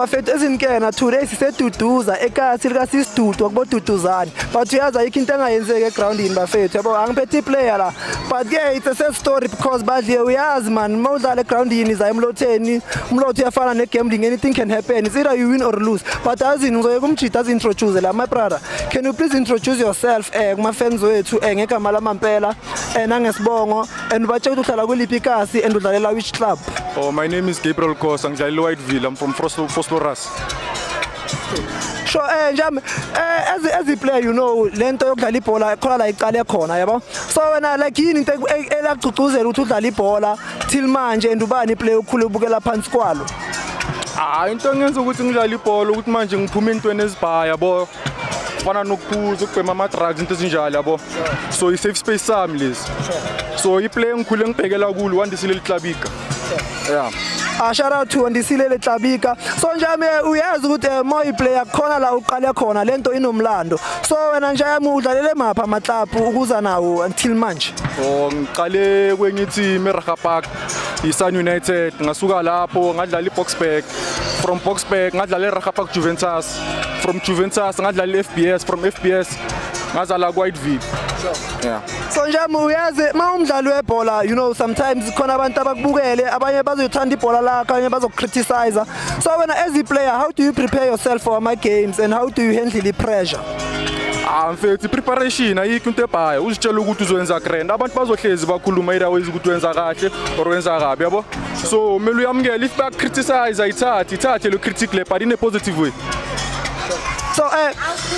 bafethu ezinkena today siseduduza ekasi likasisidudu wakuboduduzane but uyazi ayikho into engayenzeki egroundini bafethu yabo angiphethe iplayer la but ke it's a sad story because badliye uyazi man uma udlala egroundini zayo emlotheni umlotho uyafana negambling anything can happen it's either you win or lose but azini ngizoyeka umjida azi-introduce la my brother can you please introduce yourself um eh, kuma-fans wethu um eh, ngegama lamampela um eh, nangesibongo and batshela ukuthi uhlala kweliphi ikasi and udlalela which club oh my name is gabriel kosa ngidlalela whiteville i'm from foslorus sho eh njami eh as as a player you know lento yokudlala ibhola khona la iqale khona yabo so wena like yini into e- elagcugcuzela ukuthi udlala ibhola till manje and ubani iplayer ukhule ubukela phansi kwalo hayi into engenza ukuthi ngidlale ibhola ukuthi manje ngiphume entweni ezibhaya yabo kufana nokuphuza ukubhema ama-drugs into ezinjalo yabo so i-safe space sami lesi so iplay engikhule engibhekela kulo wandisile liklabika ya ah, shout out to Andisile Letlabika so njami eh, uyazi ukuthi eh, moyi player khona la uqale khona lento inomlando so wena nje yami udlalele mapha ama club ukuza nawo until manje oh ngiqale kwenye team eRaha Park iSun United ngasuka lapho ngadlala iBoxburg from Boxburg ngadlala eRaha Park Juventus from Juventus ngadlala i-FBS from FBS ngazala kwaIdville yeah so nje uyazi uma umdlali webhola you know sometimes khona abantu abakubukele abanye bazothanda ibhola lakho abanye bazokukriticize so wena as a player how do you prepare yourself for ama games and how do you handle the pressure ah mfethu preparation ayikho into ebhayo uzitshela ukuthi uzoyenza grand abantu bazohlezi bakhuluma iraways ukuthi wenza kahle or wenza kabi yabo So kumele uyamukele if ba criticize ayithathe ithathe lo critic le but in a positive way. So eh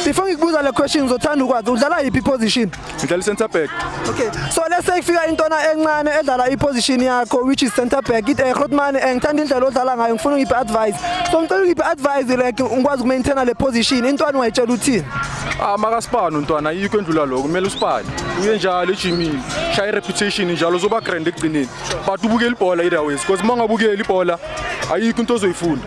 before ngikubuza le question uzothanda ukwazi udlala yiphi position? Ngidlala center back. Okay. So let's say kufika intwana encane edlala iposition yakho which is center back. It eh Grootman eh ngithanda indlela odlala ngayo ngifuna ungiphe advice. So ngicela ungiphe advice like ngikwazi ukumaintaina le position intwana ungayitshela uthini? Ah makasipani untwana yikho endlula lokho kumele usipani. Uye njalo ejimini. Shaya reputation njalo uzoba grand ekugcineni. but ubukela ibhola either ways because uma ungabukeli ibhola ayikho into ozoyifunda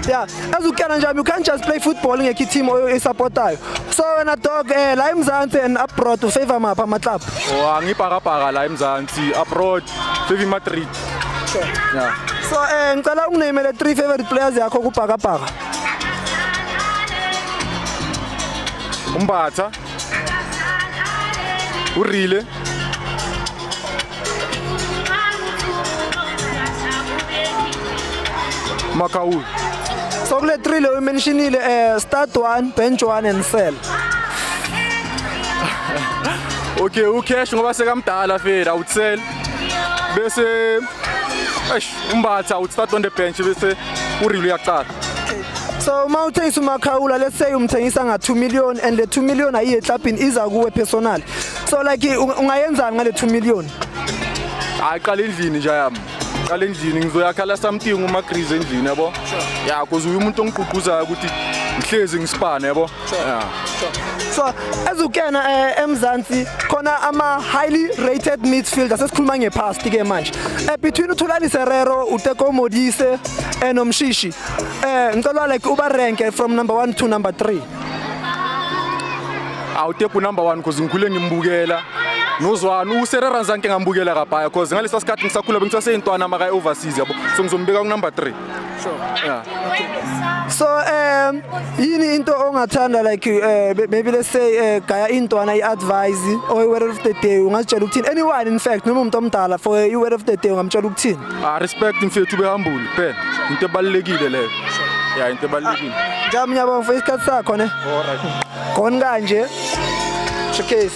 yeah as you can nje you can't just play football ngekho team oyisupportayo so wena dog eh la eMzansi and abroad u favor mapha ama club oh angibhakabhaka la eMzansi abroad favor Madrid sure yeah so eh ngicela unginamele three favorite players yakho kubhakabhaka umbatha urile makaul so kule three leyo imentionile um eh, start one bench one and sell okay ucash ngoba sekamdala fela utsel bese eish umbatha utstart on the bench bese urile uyaqala so uma uthengisa umakhawula let's say umthengisa nga 2 million and le 2 million ayiye eklabhini iza kuwe personal so like ungayenzani ngale 2 million hayi qala endlini nje yami qala endlini ngizoyakhala something uma grease endlini yabo ya cause uyu umuntu ongigqugquzayo ukuthi ngihlezi ngisipane yabo so as ukena eh, emzansi khona ama highly rated midfielder sesikhuluma ngepast ke manje eh, between uthulani serero uteko modise eh, nomshishi eh ngicela like uba rank from number 1 to number 3 awuteku number 1 cause ngikhule ngimbukela nozwani userera nzanke ngambukela kabhaya cause ngalesa sikhathi ngisakhula bengisaseyintwana maka overseas yabo so ngizombeka ku number 3 so um yini into ongathanda like uh, maybe let's say uh, gaya intwana i-advise or i-word of the day ungazitshela ukuthini anyone in fact noma umuntu omdala for i-word of the day ungamtshela ukuthini ah respect mfethu behambule phela into ebalulekile leyo ya into ebalulekile ah, njami nyabonga for isikhathi sakho ne alright khona kanje showcase